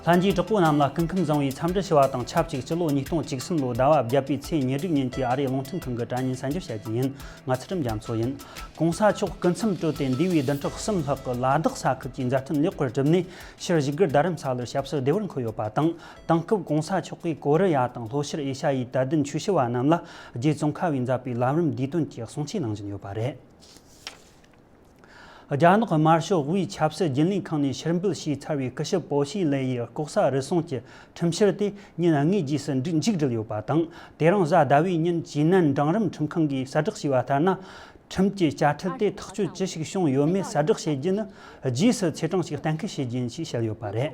ལྷན་རྒྱས་གྲོགས་པོ་རྣམས་ལ་སྐུ་ཁམས་བཟང་བའི་འཚམས་འདྲི་ཞུ་བ་དང་ཆབས་ཅིག་སྤྱི་ལོ་ཉིས་སྟོང་གཅིག་གསུམ་ལོའི་ཟླ་བ་བརྒྱད་པའི་ཚེས་ཉེར་དྲུག་ཉིན་གྱི་ཨ་རིའི་རླུང་འཕྲིན་ཁང་གི་དྲ་བརྙན་གསན་རྒྱུ་བྱ་རྒྱུ་ཡིན། ང་ཚུལ་ཁྲིམས་རྒྱ་མཚོ་ཡིན། གོང་ས་མཆོག་སྐུ་མཚམས་གཅོད་དེ་འདས་པའི་བདུན་ཕྲག་གསུམ་ལྷག་གི་ལ་དྭགས་ས་ཁུལ་གྱི་མཛའ་མཐུན་ལེགས་པར་གྲུབ་ནས་ཕྱིར་བཞུགས་སྒར་རྡ་རམ་ས་ལར་ཞབས་སོར་བདེ་བར་འཁོད་ཡོད་པ་དང། དེང་སྐབས་གོང་ས་མཆོག་གིས་ཀོ་རི་ཡ་དང་ལྷོ་ཤར་ཨེ་ཤ་ཡའི་དད་ལྡན་ཆོས་ཞུ་བ་རྣམས་ལ་རྗེ་ཙོང་ཁ་བས་མཛད་པའི་ལམ་རིམ་བདེ་དོན་གྱི་གསུང་ཆོས་གནང་བཞིན་ཡོད་པ་རེད། རྒྱ་ནག་དམར་ཤོག་དབུས་ཆབ་སྲིད་རྒྱུན་ལས་ཁང་ནས་ཕྱིར་འབུད་བྱས་ཚར་བའི་སྐུ་ཞབས་པོ་ཞི་ལེ་ཡི་ལྐོག་ཟ་རུལ་སུངས་ཀྱི་ཁྲིམས་ཕྱིར་དེ་ཉིན་ལྔའི་རྗེས་སུ་མཇུག་འགྲིལ་ཡོད་པ་དང་དེ་རིང་གཟའ་ཟླ་བའི་ཉིན་ཇི་ནན་འབྲིང་རིམ་ཁྲིམས་ཁང་གིས་གསལ་བསྒྲགས་བྱས་པ་ལྟར་ན། ཁྲིམས་ཀྱི་དཔྱ་ཁྲལ་དེ་ཐག་གཅོད་ཅི་ཞིག་བྱུང་ཡོད་མེད་གསལ་བསྒྲགས་བྱེད་རྒྱུ་ནི་རྗེས་སུ་ཚེས་གྲངས་ཤིག་གཏན་འཁེལ་བྱེད་རྒྱུ་ཡིན་ཞེས་བཤད་ཡོད་པ་རེད།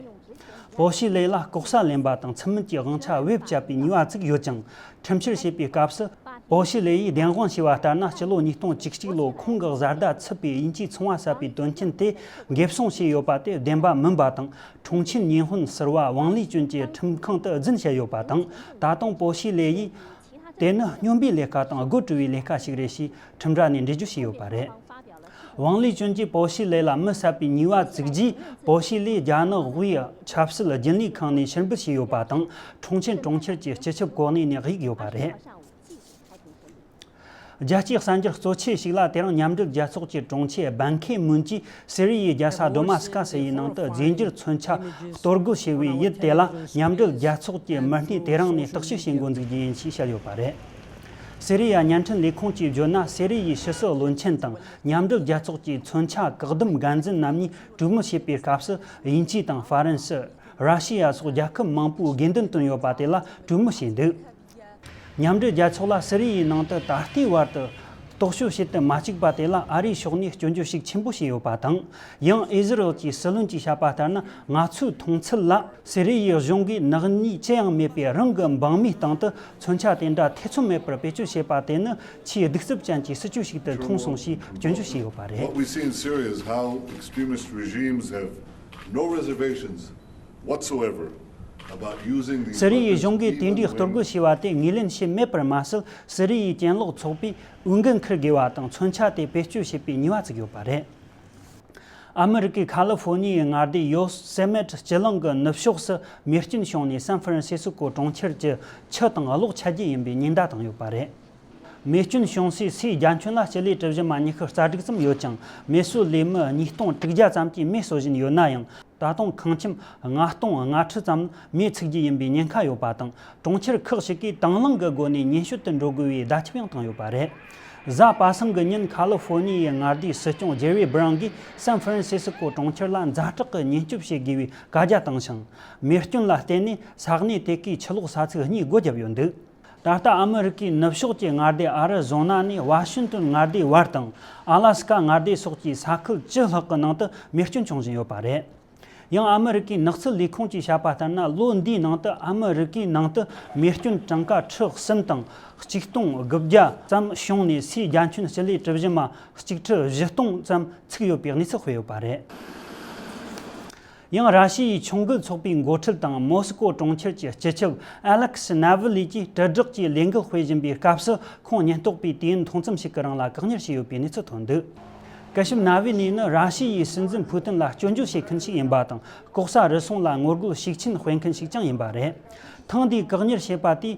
པོ་ཞིས་ལེ་ལ་ལྐོག་ཟ་ལེན་པ་དང་ཚུལ་མིན་གྱི་དབང་ཆ་བེད་སྤྱད་པའི་ནུས་པ་བཙུགས་ཡོད་ཅིང་ཁྲིམས་བཤེར་བྱེད་པའི་སྐབས་སུ། པོ་ཞིས་ལེ་ཡིས་བདེན་དབང་ཞུས་པ་ལྟར་ན་སྤྱི་ལོ་ཉིས་སྟོང་བཅུ་གཅིག་ལོར་ཁོང་གི་བཟའ་ཟླ་ཚུད་པའི་དབྱིན་ཇིའི་ཚོང་བ་གསར་པའི་དོན་རྐྱེན་དེ་འགེབས་སྲུང་བྱས་ཡོད་པ་དེ་བདེན་པ་མིན་པ་དང་ཁྲུང་ཆིན་ཉིན་ཧོན་ཟེར་བ་ཝང་ལི་ཅུན་གྱི་ཁྲིམས་ཁང་དུ་རྫུན་བཤད་ཡོད་པ་དང་ད་དུང་པོ་ཞིས་ལེ་ཡིས་དེ་ནི་སྨྱོན་པའི་ལས་ཀ་དང་དགོད་བྲོ་བའི་ལས་ཀ་ཞིག་རེད་ཞེས་ཁྲིམས་ར་ནས་འགྲེལ་བརྗོད་བྱས་ཡོད་པ་རེད། ཝང་ལི་ཅུན་གྱིས་པའོ་ཞི་ལེ་ལ་མི་བསད་པའི་ཉེས་པ་བཙུགས་རྗེས་པའོ་ཞི་ལེ་རྒྱ་ནག་དབུས་ཆབ་སྲིད་རྒྱུན་ལས་ཁང་ནས་ཕྱིར་འབུད་བྱས་ཡོད་པ་དང་ཁྲུང་ཆིན་གྲོང་ཁྱེར་གྱི་སྤྱི་ཁྱབ་གོ་གནས་ནས་གཡུགས་ཡོད་པ་རེད། རྒྱལ་སྤྱིའི་གསར་འགྱུར་གཙོ་ཆེ་ཞིག་ལ་དེ་རིང་མཉམ་འབྲེལ་རྒྱལ་ཚོགས་ཀྱི་དྲུང་ཆེ་སྦན་ཁེ་མུན་གྱིས་སི་རི་ཡའི་རྒྱལ་ས་སྡོ་མ་སི་ཀ་སི་ཡི་ནང་དུ་རྫས་འགྱུར་མཚོན་ཆ་གཏོར་རྒོལ་བྱས་པའི་ཡུལ་དེ་ལ་མཉམ་འབྲེལ་རྒྱལ་ཚོགས་ཀྱི་མི་སྣས་དེ་རིང་ནས་བརྟག་ཞིབ་བྱེད་འགོ་འཛུགས་རྒྱུ་ཡིན་ཞེས་བཤད་ཡོད་པ་རེད། སི་རི་ཡའི་བརྙན་འཕྲིན་ལས་ཁུངས་ཀྱིས་བརྗོད་ན་སི་རི་ཡའི་ཕྱི་སྲིད་བློན་ཆེན་དང་མཉམ་འབྲེལ་རྒྱལ་ཚོགས་ཀྱི་མཚོན་ཆ་བཀག་སྡོམ་འགན་འཛིན་རྣམ་གཉིས་གྲོས་མོལ་བྱེད་པའི་སྐབས་སུ་དབྱིན་ཇི་དང་ཧྥ་རན་སི། ར་ཤི་ཡ་སོགས་རྒྱལ་ཁབ་མང་པོས་དགེ་འདུན་བཏོན་ཡོད་པ་དེ་ལ་གྲོས་མོལ་བྱས་འདུག། མཉམ་འབྲེལ་རྒྱལ་ཚོགས་ལ་སི་རི་ཡའི་ནང་དུ་ད་ལྟའི་བར་དུ་རྟོག་དཔྱོད་བྱེད་དུ་མ་བཅུག་པ་དེ་ལ་ཨ་རིའི་ཕྱོགས་ནས་སྐྱོན་བརྗོད་ཤུགས་ཆེན་པོ་བྱས་ཡོད་པ་དང། ཡང་ཨི་ཟི་རེལ་གྱི་སྲིད་བློན་གྱིས་བཤད་པ་ལྟར་ན་ང་ཚོའི་མཐོང་ཚུལ་ལ། སི་རི་ཡའི་གཞུང་གིས་ནག་ཉེས་ཅི་ཡང་མེད་པའི་རང་གི་འབངས་མིའི་སྟེང་དུ་མཚོན་ཆ་དེ་འདྲ་ཐེ་ཚོམ་མེད་པར་བེད་སྤྱོད་བྱས་པ་དེ་ནི་ཆེས་གདུག་རྩུབ་ཅན་གྱི་སྲིད་བྱུས་ཤིག་ཏུ་མཐོང་སོང་ཞེས་སྐྱོན་བརྗོད་བྱས་ཡོད་པ་རེད། whatsoever about using these weapons either way། ཟི་རི་ཡའི་གཞུང་གིས་དེ་འདྲའི་གཏོར་རྒོལ་བྱས་པ་དེ་ངོས་ལེན་བྱས་མེད་པར་མ་ཟད་ཟི་རི་ཡའི་གྱེན་ལོག་ཚོགས་པས་འོས་འགན་འཁུར་དགོས་པ་དང་མཚོན་ཆ་དེ་བེད་སྤྱོད་བྱེད་པའི་ཉེས་པ་བཙུགས་ཡོད་པ་རེད། ཨ་མི་རི་ཀའི་ཁ་ལི་ཧྥོ་ནི་ཡའི་མངའ་སྡེ་ཡོ་སེ་མེད་སྤྱི་གླིང་གི་ནུབ་ཕྱོགས་སུ་མེ་སྐྱོན་བྱུང་ནས་སན་ཧྥི་རན་སི་སི་ཀོ་གྲོང་ཁྱེར་གྱི་ཆུ་དང་གློག་ཆད་རྒྱུ་ཡིན་པའི་ཉེན་བརྡ་བཏང་ཡོད་པ་རེད། མེ་སྐྱོན་བྱུང་སའི་སའི་རྒྱ་ཁྱོན་ན་སྤྱི་ལེ་གྲུ་བཞི་མ་ཉི་ཤུ་རྩ་དྲུག་ཙམ་ཡོད་ཅིང་མེ་གསོད་ལས་མི་ཉིས་སྟོང་དྲུག་བརྒྱ་ཙམ་གྱིས་མེ་གསོ་བཞིན་ཡོད་ན་ཡང་ད་དུང་ཁང་ཁྱིམ་ལྔ་སྟོང་ལྔ་ཁྲི་ཙམ་མེས་ཚུགས་ཀྱི་ཡིན་པའི་ཉེན་ཁ་ཡོད་པ་དང་གྲོང་ཁྱེར་ཁག་ཞིག་གིས་དང་བླངས་ཀྱི་སྒོ་ནས་ཉེན་ཞོད་དུ་འགྲོ་དགོས་པའི་བརྡ་ཁྱབ་ཡང་བཏང་ཡོད་པ་རེད། གཟའ་པ་གསུམ་གྱི་ཉིན་ཁ་ལི་ཧྥོ་ནི་ཡའི་མངའ་སྡེའི་སྲིད་སྐྱོང་ཇེ་རི་སྦྲང་གིས་སན་ཧྥི་རན་སི་སི་ཀོ་གྲོང་ཁྱེར་ལ་མཛའ་གྲོགས་ཀྱི་ཉེན་སྐྱོབ་བྱེད་དགོས་པའི་བཀའ་རྒྱ་བཏང་ཞིང། མེ་སྐྱོན་ལ་བརྟེན་ནས་ས་གནས་དེ་གའི་ཆུ་གློག་ས་ཚིགས་གཉིས་སྒོ་བརྒྱབ་ཡོད་འདུག། ད་ལྟ་ཨ་མི་རི་ཀའི་ནུབ་ཕྱོགས་ཀྱི་མངའ་སྡེ་ཨ་རི་བཟོ་ན་ནས་བྷ་ཤིན་ཏོན་མངའ་སྡེའི་བར་དང་ཨ་ལ་སི་ཀ་མངའ་སྡེ་སོགས་ཀྱི་ས་ཁུལ་བཅུ་ལྷག་གི་ནང་དུ་མེ་སྐྱོན་འབྱུང་བཞིན་ཡོད་པ་རེད། ཡང་ཨ་མི་རི་ཀའི་ནགས་ཚལ་ལས་ཁུངས་ཀྱིས་བཤད་པ་ལྟར་ན་ལོ་འདིའི་ནང་དུ་ཨ་མི་རི་ཀའི་ནང་དུ་མེ་སྐྱོན་གྲངས་ཀ་ཁྲི་གསུམ་དང་གཅིག་སྟོང་དགུ་བརྒྱ་ཙམ་བྱུང་ནས་སའི་རྒྱ་ཁྱོན་སྤྱི་ལེ་གྲུ་བཞི་མ་གཅིག་ཁྲི་བཞི་སྟོང་ཙམ་ཚུགས་ཡོད་པའི་གནས་ཚུལ་སྤེལ་ཡོད་པ་རེད། ཡང་ར་ཤི་ཡའི་མཆོང་བརྒལ་ཚོགས་པའི་མགོ་ཁྲིད་དང་མོ་སི་ཀོ་གྲོང་ཁྱེར་གྱི་སྤྱི་ཁྱབ་ཨེ་ལེག་སི་ནཱ་ཝི་ལི་ཀྱིས་དྲིལ་བསྒྲགས་ཀྱི་ལས་འགུལ་སྤེལ་བཞིན་པའི་སྐབས་སུ་ཁོང་ཉེན་རྟོག་པས་དུས་ཡུན་ཐུང་ཙམ་ཞིག་གི་རིང་ལ་བཀག་ཉར་བྱས་ཡོད་པའི་གནས་ཚུལ་ཐོན་འདུག་སྐུ་ཞབས་ནཱ་ཝི་ལི་ནི་ར་ཤི་ཡའི་སྲིད་འཛིན་ཕུ་ཏིན་ལ་སྐྱོན་བརྗོད་བྱེད་མཁན་ཞིག་ཡིན་པ་དང་ལྐོག་ཟ་རུལ་སུངས་ལ་ངོ་རྒོལ་ཤུགས་ཆེན་སྤེལ་མཁན་ཞིག་ཀྱང་ཡིན་པ་རེད། ཐེངས་འདིའི་བཀག་ཉར་བྱས་པ་དེས་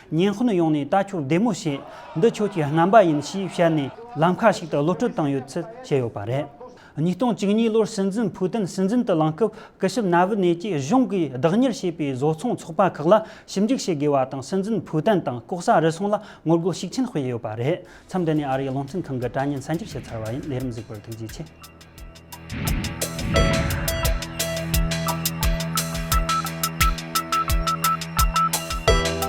ཉིན་ཧོན་ཡོང་ནས་ད་ཁྱོད་བདེ་མོ་བྱས། འདི་ཁྱོད་ཀྱི་རྣམ་པ་ཡིན་ཞེས་བཤད་ནས་ལམ་ཁ་ཞིག་ཏུ་གློད་གྲོལ་བཏང་ཡོད་ཚུལ་བཤད་ཡོད་པ་རེད། ཉིས་སྟོང་བཅུ་གཉིས་ལོར་སྲིད་འཛིན་ཕུའུ་ཏན་སྲིད་འཛིན་དུ་ལངས་སྐབས་སྐུ་ཞབས་ན་ཝི་ནེ་ཀྱིས་གཞུང་གིས་བདག་གཉེར་བྱས་པའི་བཟོ་ཚོང་ཚོགས་པ་ཁག་ལ་ཞིབ་འཇུག་བྱེད་དགོས་པ་དང་སྲིད་འཛིན་ཕུའུ་ཏན་དང་ལྐོག་ཟ་རུལ་སུངས་ལ་ངོ་རྒོལ་ཤུགས་ཆེན་སྤེལ་ཡོད་པ་རེད། མཚམས་འདི་ནས་ཨ་རིའི་བློ་མཐུན་ཁང་གི་དྲ་བརྙན་གསར་འགྱུར་བྱས་ཚར་བ་ཡིན་ལས་རིམ་གཟིགས་པར་ཐུགས་རྗེ་ཆེ།